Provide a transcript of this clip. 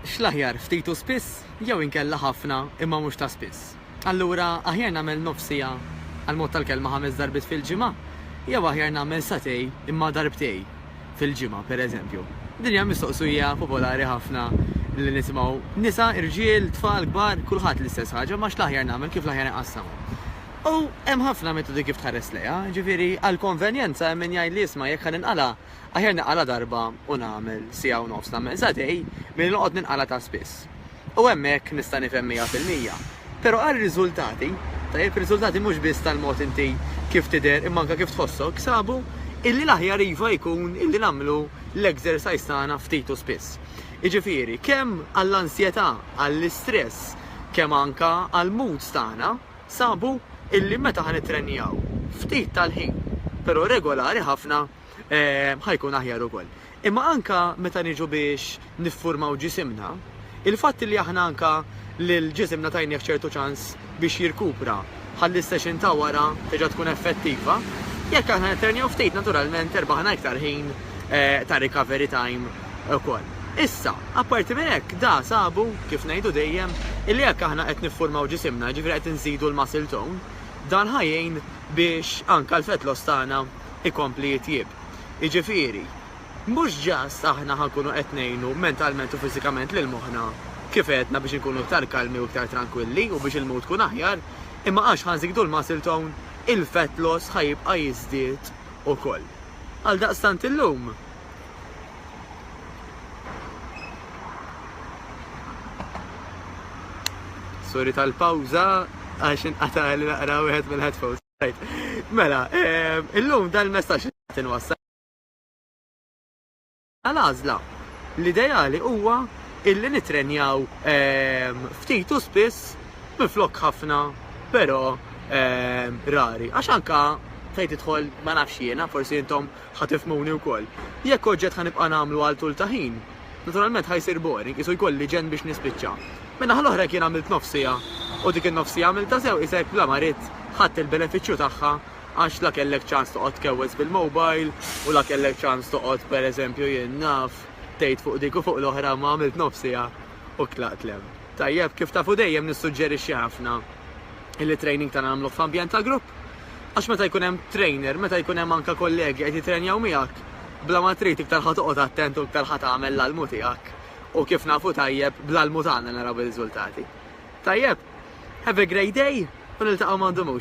X'l-aħjar, ftit u spiss, jew inkella ħafna imma mhux ta' spiss? Allura aħjar nagħmel nofs siegħa għall-mod tal-kelma ħames darbiet fil-ġimgħa jew aħjar nagħmel sagħtej imma darbtej fil-ġimgħa, pereżempju? Din hija mistoqsija popolari ħafna li nisimgħu nisa, irġiel, tfal, kbar, kulħadd l-istess ħaġa, ma x'l-aħjar nagħmel, kif l-aħjar inqassamhom? U hemm ħafna metodi kif tħares lejha. Jiġifieri, għall-konvenjenza hemm min jgħid li isma' jekk ħa ninqala', aħjar ninqala' darba u nagħmel siegħa u nofs, nagħmel sagħtej, milli noqgħod ninqala' ta' spiss. U hemmhekk nista' nifhem mija fil-mija. Però għar-riżultati, tajjeb, riżultati mhux biss tal-mod inti kif tidher imma anke kif tħossok, sabu illi l-aħjar iva jkun illi nagħmlu l-exercise tagħna ftit u spiss. Jiġifieri, kemm għall-ansjetà, għall-istress, kemm anke għall-moods tagħna. Sabu illi meta ħa nittrenjaw ftit tal-ħin, pero' regolari ħafna, ħa jkun aħjar ukoll. Imma anka meta niġu biex niffurmaw ġisimna, il-fatt illi aħna anka lil ġisimna tajnieh ċertu ċans biex jirkupra ħalli s-session ta' wara terġa' tkun effettiva, jekk aħna nittrenjaw ftit naturalment irbaħna iktar ħin ta' recovery time. ukoll. Issa, apparti minn hekk, da sabu, kif ngħidu dejjem, illi jekk aħna qed niffurmaw ġisimna, jiġifieri qed inżidu l-muscle tone, dan ħa jgħin biex anke l-fat loss tagħna jkompli jitjieb. Jiġifieri, mhux just aħna ħa nkunu qed ngħinu mentalment u fiżikament lil moħħna, kif għedna biex inkunu iktar kalmi u iktar trankwilli u biex il-mood ikun aħjar, imma għax ħa nżidu l-muscle tone, il-fat loss ħa jibqa' jiżdied ukoll. Għaldaqstant illum, Sorry tal-pawza għax inqata' li naqra wieħed mill-headphones. Mela, ehm, illum dan il-messaġġ tinwassal. Għal-għażla, l-ideali huwa illi nitrenjaw ehm, ftit u spiss minflok ħafna, però ehm, rari. Għax anka fejn tidħol ma nafx jiena, forsi intom ħa tifhmuni wkoll. Jekk oġġett ħa nibqa' nagħmlu għal tul ta' ħin, naturalment ħa jsir boring, qisu jkolli ġenn biex nispiċċa. Min-naħa l-oħra jekk jien għamilt nofs siegħa u dik in-nofs siegħa għamiltha sew qisek bla ma ridt ħadt il-benefiċċju tagħha għax la kellek ċans toqgħod tkewweż bil-mobile u la kellek ċans toqgħod pereżempju jien naf tgħid fuq dik u fuq l-oħra imma għamilt nofs siegħa u tlaqt l-hemm. Tajjeb, kif tafu dejjem nissuġġerixxi ħafna. illi t-training tagħna nagħmluh f'ambjent ta' grupp. Għax meta jkun hemm trainer, meta jkun hemm anke kollegi qed jittrenjaw miegħek, bla ma trid iktar ħa toqgħod attent u iktar ħa tagħmel l-almu tiegħek. U kif nafu tajjeb, bl-almu tagħna naraw ir-riżultati. Tajjeb? Have a great day u niltaqgħu m'għandu mhux.